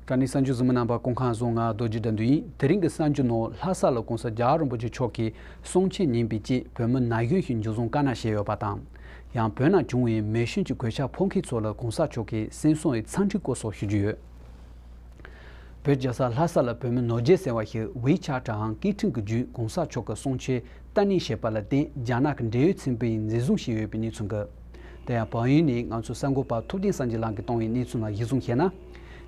སྦྲ་ནི་ས་འཇུ་གཟིམ་མོ་རྣམ་པ་ཀོང་ཁང་བཟོ་ང་རྡོ་རྗེ་འདྲ་འདུལ་ཡིན་དེ་རིང་གི་ས་འཇུ་ནོར་ལྷ་ས་ལ་གོང་ས་རྒྱ་རིན་པོ་ཆེ་མཆོག་གིས་གསུང་ཆེན་ཉིན་པའི་དཔྱིད་བོད་མི་ན་གཞོན་ཞིག་འཇུ་བཟུང་དཀའ་ན་བཞེས་ཡོད་པ་དང། ཡང་བོད་ནང་བྱུང་བའི་མེ་ཞོན་གྱི་གོད་ཆག་ཕོག་མཁན་ཚོ་ལ་གོང་ས་མཆོག་གིས་སེམས་གསོ་བའི་ཚང་འཁྲི་སྐོར་སོགས་ཞུ་རྒྱུ་ཡོད། བོད་རྒྱལ་ས་ལྷ་ས་ལ་བོད་མི་ནོར་རྒྱས་ཟེར་བ་ཞིག་ཝེ་ཆ་ཀྲའང་ཀི་ཁྲིན་གྱི་བརྒྱུད་གོང་ས་མཆོག་གི་གསུང་ཆོས་བཀའ་ནན་བཞེས་པ་ལ་བརྟེན་རྒྱ་ནག་གི་འབྲེལ་ཡོད་ཚན་པས་འཛིན་བཟུང་བྱས་ཡོད་པའི་གནས་ཚུལ་འགའ། དེ་ཡང་བག་ཡོད་ནས་ང་ཚོའི་གསར་འགོད་པ་ཐུབ་བསྟན་སངས་རྒྱས་ལགས་ཀྱིས་བཏང་བའི་གནས་ཚུལ་ལ་གཞི་བཟུང་བཤད་ན།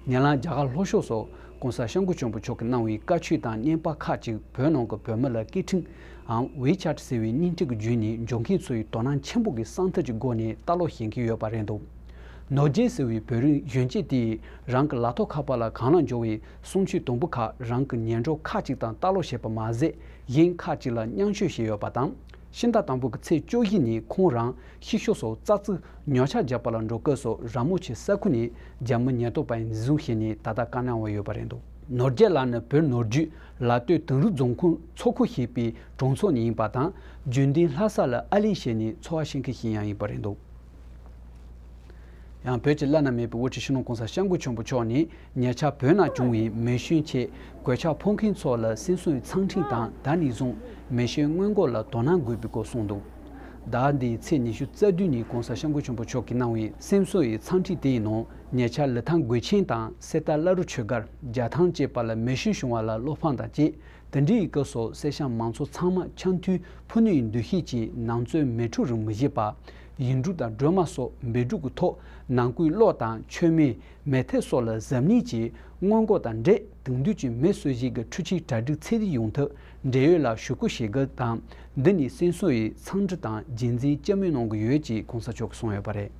ཉེ་ལམ་རྒྱ་གར་ལྷོ་ཕྱོགས་སུ ྋགོང་ས་ཤངས་ཀུ་ཆོན་པོ་མཆོག་གིས་གནང་བའི་བཀའ་ཆོས་དང་བརྙན་དཔར་ཁག་ཅིག་བོད་ནང་གི་བོད་མི་ལ་ཀི་ཁྲིན་ཨམ་ཝེ་ཆ་ཀྲ་ཟེར་བའི་སྙིང་ཐིག་གི་བརྒྱུད་ནས་འབྱོར་མཁན་ཚོས་དོ་སྣང་ཆེན་པོ་གིས་གསང་ཐབས་ཀྱི་སྒོ་ནས་ལྟ་ཀློག་བྱེད་ཀྱིན་ཡོད་པ་རེད་འདུག་ནོར་རྒྱལ་ཟེར་བའི་བོད་རིགས་གཞོན་སྐྱེས་དེས་རང་གི་ལག་ཐོགས་ཁ་པར་ལ་གངས་ལ་འབྱོར་བའི་གསུང་ཆོས་དུམ་བུ་ཁག་རང་གི་ཉལ་འགྲོ་ཁག་ཅིག་དང་ལྟ་ཀློག་བྱས་པ་མ་ཟད་གཞན་ཁག་ཅིག་ལ་བསྙང་ཤོས་བྱས་ཡོད་པ་དང། ཤིང་རྟ་དང་པོ་གི་ཚེས་བཅུ་བཞི་ནས་ཁོང་རང་གཤིག་ཤོ་སོགས་ཙག་ཙིག་ཉོ་ཆ་རྒྱག་པ་ལ་འགྲོ་སྐབས་སུ་ར་མོ་ཆེ་ས་ཁུལ་ནས་རྒྱ་མི་ཉེན་རྟོག་པས་འཛིན་བཟུང་བྱས་ནས་ད་ལྟ་བཀག་གནང་བ་ཡོད་པ་རེད་འདུག། ནོར་རྒྱལ་ལགས་ནི་བོད་ནོར་རྒྱུད་ལ་སྟོད་དུང་རུ་རྫོང་ཁུངས་མཚོ་ཁུལ་ཞེས་པའི་གྲོང་ཚོ་ནས་ཡིན་པ་དང་རྒྱུན་ལྡན་ལྷ་ས་ལ་ཨ་ལི་ཞེས་ནས་འཚོ་བ་བྱེད་མཁན་ཞིག་ཡང་ཡིན་པ་རེད་འདུག། ཡང་བོད་ཀྱི་བླ་ན་མེད་པའི་དབུ་ཁྲིད་ཤིང་ལོང་ཀོང་ས་ཤངས་སྐུ་ཆེན་པོ་མཆོག་ནི་ཉེ་ཆར་བོད་ནང་བྱུང་བའི་མེ་ཤུན་ཆེད་གོས་ཆག་འཕོག་མཁན་ཚོ་ལ་སིན་སོན་ཚང་ཁྲིན་དང་ད་ནི་བཟུང་མེ་ཤེལ་སྔོན་མགོ་ལ་དོ་སྣང་དགོས་པའི་སྐོར་གསུངས་འདུག་ཟླ་འདིའི་ཚེས་ཉི་ཤུ་རྩ་བདུན་ཉིན་ཀོང་ས་ཤངས་སྐུ་ཆེན་པོ་མཆོག་གིས་གནང་བའི་སིན་སོན་ཡི་ཚང་ཁྲིད་དེའི་ནང་ཉེ་ཆར་ལི་ཐང་གོས་ཆེན་དང་གསེར་རྟ་བླ་རུ་ཆོས་སྒར་རྒྱ་ཐང་བཅས་པ་ལ་མེ་ཤུན་བྱུང་བ་ལ་བློ་ཕངས་དང་བཅས་དེ་འདྲའི་ཡི་གེ་སོགས་གསེར་བཤམས་མང་ཚོགས་ཚང་མ་ཆ་མཐུན་ཕུ་ནུ་ཡི་འདུ་ཤེས་ཀྱིས་ནང་རྩོད་མེད་འཁྲུག་རིང་མི་བྱེད་པ། ཡིག་འབྲུ་དང་སྒྲོལ་མ་སོགས་འབེལ་འཁྲུག་གི་ཐོག་ནང་སྐུའི་གློག་དང་མཆོད་མེ། མེ་ཐལ་སོགས་ལ་གཟབ་ནན་གྱིས་སྔོན་འགོག་དང་འབྲེལ་དེང་དུས་ཀྱི་མི་གསོད་བྱེད་ཀྱི་འཕྲུལ་ཆས་གྲ་སྒྲིག་ཚད་ལྡན་ཡོང་ཐབས་འབྲེལ་ཡོད་ལ་ཞུ་སྐུལ་བྱེད་གལ་དང། འདི་ནི་སེང་ཟུར་ཡིས་འཚང་འབྲི་དང་རྗེས་འཛིན་ལྕི་མོས་གནང་གི་ཡོད་ཅེས་གོང་ས་མཆོག་གིས་གསུངས་ཡོད་པ་རེད།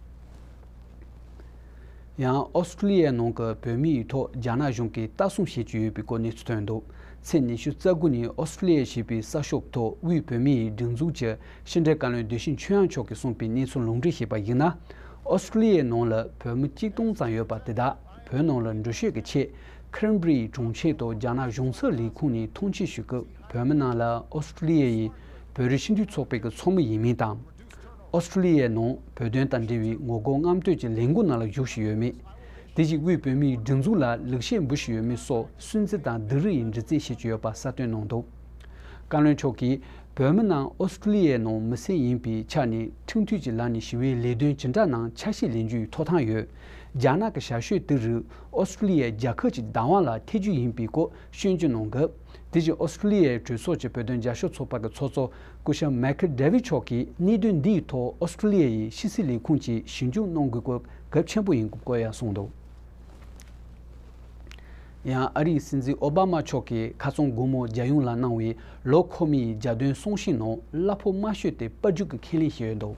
ཡང་ཨོ་སི་ཀྲུ་ལི་ཡའི་ནང་གི་བོད་མི་ཡིག་ཐོག་རྒྱ་ནག་གཞུང་གིས་ལྟ་སྲུང་བྱེད་ཀྱི་ཡོད་པའི་སྐོར་གནས་ཚུལ་ཐོན་འདུག་ཚེས་ཉི་ཤུ་རྩ་དགུ་ཉིན་ཨོ་སི་ཀྲུ་ལི་ཡའི་བྱིས་པའི་གསར་ཤོག་ཐོག་དབུས་བོད་མི་ཡིག་སྒྲིག་འཛུགས་ཀྱི་ཕྱི་འབྲེལ་བཀའ་བློན་བདེ་ཤིང་ཆོས་དབྱངས་མཆོག་གིས་གསུངས་པའི་གནས་ཚུལ་ལུང་འདྲེན་བྱས་པར་གཞིགས་ན། ཨོ་སི་ཀྲུ་ལི་ཡའི་ནང་ལ་བོད་མི་གཅིག་སྟོང་ཙམ་ཡོད་པ་དེ་དག་བོད་ནང་ལ་འགྲུལ་བཞུད་ཀྱི་ཆེད Cranberry གྲོང་ཁྱེར་དུ་རྒྱ་ནག་གཞུང་ཚབ་ལས་ཁུངས་ནས་ཐོངས་མཆན་ཞུས་སྐབས་བོད་མི་རྣམས་ལ་ཨོ་སི་ཀྲུ་ལི་ཡའི་བོད་རིགས་སྤྱི་མཐུན་ཚོགས་པའི་གི་ཚོགས་མི་ཡིན་མིན་དང། ཨོ་སྟྲེ་ལི་ཡའི་ནང་བོད་དོན་དང་འབྲེལ་བའི་ངོ་རྒོལ་རྔམ་སྟོད་ཀྱི་ལས་འགུལ་ནང་ལ་ཞུགས་བཞིན་ཡོད་མེད། དེ་བཞིན་དབུས་བོད་མིའི་སྒྲིག་འཛུགས་ལ་ལེགས་བཤད་འབུལ་བཞིན་ཡོད་མེད་སོགས་སུན་གཙེར་དང་སྡུག་རུས་ཡི་འདྲི་རྩད་བྱེད་ཀྱི་ཡོད་པ་གསལ་སྟོན་གནང་འདུག་བཀའ་བློན་མཆོག་གིས་བོད་མི་རྣམས་ཨོ་སྟྲེ་ལི་ཡའི་ནང་མི་སེར་ཡིན་པའི་ཆ་ནས་ཁྲིམས་མཐུན་གྱི་ལམ་ནས་ཞི་བའི་ལས་དོན་ཇི་འདྲ་གནང་ཆ་ཤས་ལེན་རྒྱུའི་ཐོབ་ཐང་ཡོད། རྒྱ་ནག་གི་ཞར་ཞོད་དེ་རིགས་ཨོ་སྟྲེ་ལི་ཡའི་རྒྱལ་ཁབ་ཀྱི་བདག་དབང་ལ་ཐེ་ཇུས་ཡིན་པའི་སྐོར་ཤོད་འཇུག་གནང་སྐབས་དེ་བཞིན་ཨོ་སྟྲེ་ལི་ཡའི་གྲོས་ཚོགས་ཀྱི་བོད་དོན་བརྒྱ་ཤོག་ཚོགས་པ་གི་ཚོགས་གཙོ་སྐུ་ཞབས་མེ་ཁི་ཏྲེ་ཝི་མཆོག་གིས་གནད་དོན་འདིའི་ཐོག་ཨོ་སི་ཁྲུ་ལི་ཡ་ཡི་ཕྱི་སྲིད་ལས་ཁུངས་ཀྱིས་ཞིབ་འཇུག་གནང་དགོས་སྐོར་གལ་ཆེན་པོ་ཡིན་སྐོར་ཡང་གསུངས་འདུག་ཡང་ཨ་རིའི་སྲིད་འཛིན་ཨོ་བྷ་མ་མཆོག་གིས་ཁ་སང་དགོང་མོ་རྒྱལ་ཡོངས་ལ་གནང་བའི་ལོ་འཁོར་མིའི་རྒྱ་སྟོན་གསུང་བཤད་ནང་གླ་ཕོགས་དམའ་ཤོས་དེ་དཔལ་འབྱོར་གྱི་ཁས་ལེན་བྱས་ཡོད་འདུག་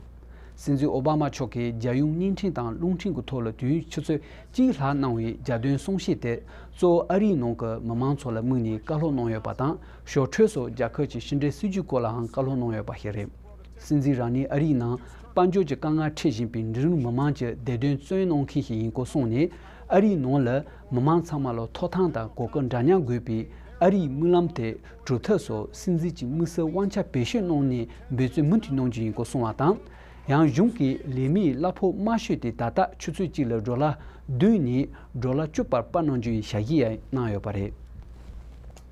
སྲིད་འཛིན་ཨོ་བྷ་མ་མཆོག་གིས་རྒྱལ་ཡོངས་བརྙན་འཕྲིན་དང་རླུང་འཕྲིན་གྱི་ཐོག་ལ་དུས་ཡུན་ཆུ་ཚོད་གཅིག་ལྷག་གནང་བའི་རྒྱ་སྟོན་གསུང་བཤད་དེ་གཙོ་བོ་ཨ་རིའི་ནང་གི་མི་མང་ཚོ་ལ་དམིགས་ནས་བཀའ་སློབ་གནང་ཡོད་པ་དང་ཞོར་འཕྲོས་སུ་རྒྱ་གར་གྱི་ཕྱི་འབྲེལ་སྲིད་ཇུས་སྐོར་ལའང་བཀའ་སློབ་གནང་ཡོད་པ་ཞིག་རེད། སྲིད་འཛིན་རང་ཉིད་ཨ་རིའི་ནང་དཔལ་འབྱོར་གྱི་དཀའ་ངལ་འཕྲད་བཞིན་པའི་འབྲི་རུ་མི་དམངས་ཀྱི་བདེ་དོན་བརྩོན་གནང་མཁན་ཞིག་ཡིན་སྐོར་གསུངས་ནས་ཨ་རིའི་ནང་ལ་མི་དམངས་ཚང་མ་ལ་ཐོག་ཐང་དང་གོ་སྐབས་འདྲ་མཉམ་དགོས་པའི་ཨ་རིའི་དམིགས་ལམ་དེ་གྲུབ་ཐབས་སུ་སྲིད་འཛིན་གྱི་དམིགས་བསལ་དབང་ཆ་བེད་སྤྱོད་གནང་ནས་འབད་བརྩོན་མུ་མཐུད་གནང་རྒྱུ་ཡིན་སྐོར་གསུངས་བ་དང། ཡང་གཞུང་གི་ལས་མིའི་གླ་ཕོགས་དམའ་ཤོས་དེ་ད་ལྟ་ཆུ་ཚོད་གཅིག་ལ་འབྲོག་ལྭ་བདུན་ནས་འབྲོག་ལྭ་བཅུ་བར་སྤར་གནང་རྒྱུ་ཡིན་ཞལ་བཞེས་ཡང་གནང་ཡོད་པ་རེད།